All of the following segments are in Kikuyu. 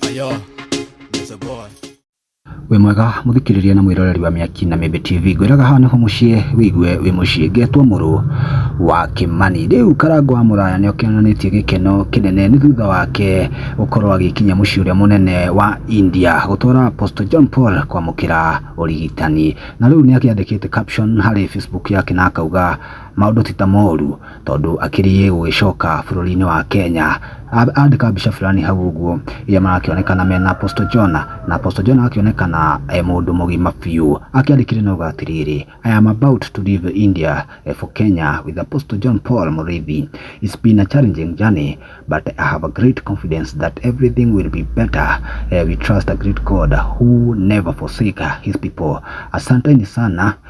Ayo, Mr. Boy. wĩ mwega mũthikĩrĩria na mwĩroreri wa mĩaki na mĩmbe tv ngwĩraga haha nĩho mũciĩ wĩigue wĩ mũciĩ ngetwo mũrũ wa kĩmani rĩu karango wa mũraya nĩ okĩonanĩtie gĩkeno kĩnene nĩ thutha wake gũkorwo agĩkinya mũciĩ ũrĩa mũnene wa india gũtwara apostle john paul kwamũkĩra ũrigitani na rĩu nĩ akĩandĩkĩte caption harĩ facebook yake na akauga maũndũ ti ta moru tondũ akĩrĩe gũgĩcoka bũrũri-inĩ wa Kenya andĩka mbica fulani hau ũguo iria marakĩonekana mena Apostle John na Apostle John agakĩonekana e mũndũ mũgima biũ akĩandĩkire na auga atĩrĩrĩ I am about to leave India eh, for Kenya with Apostle John Paul Mũrĩithi it's been a challenging journey but I have a great confidence that everything will be better Eh, we trust a great God who never forsake his people asanteni sana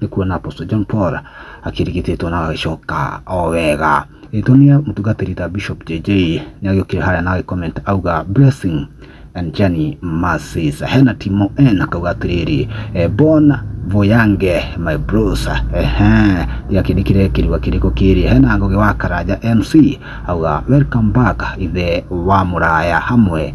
nĩ kuona Apostle John Paul akĩrigitĩtwo na agĩcoka o wega. Ĩtonia mũtungatĩri ta Bishop JJ nĩ agĩũkire harĩa na agĩcomment auga blessing and journey mercies. Hena Timo N akauga atĩrĩrĩ eh, bon voyange my bros ehe ya kĩndĩ kĩrĩa kĩrua kĩrĩkũ kĩrĩ hena ngũgĩ wa karanja MC auga welcome back ithe wa mũraya hamwe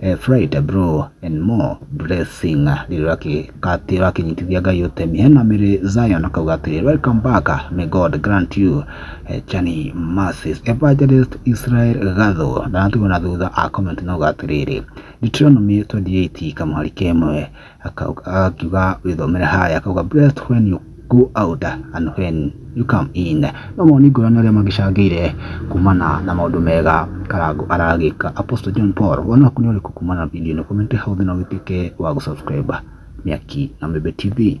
eh, fry the bro and more blessing rĩrĩa ũrakĩ- atĩ ũrakĩnyitithia ngai ũtemi hena mĩrĩ zion akauga atĩrĩ welcome back may god grant you eh, chani mercies evangelist israel gatho ndanatigwo na thutha a comment nauga atĩrĩrĩ deuteronomy 28 kamũhari kemwe akiuga wĩthomere haya akauga blessed when you go out and when you come in no moni ngũrani arĩa magĩcangĩire kumana na maũndũ mega karangu aragĩka apostle john paul wona waku nĩ ũrĩkũ kumana na video ĩno comment hau thĩ na ũgĩtuĩke wa gũsubscribe mĩaki na mĩmbe tv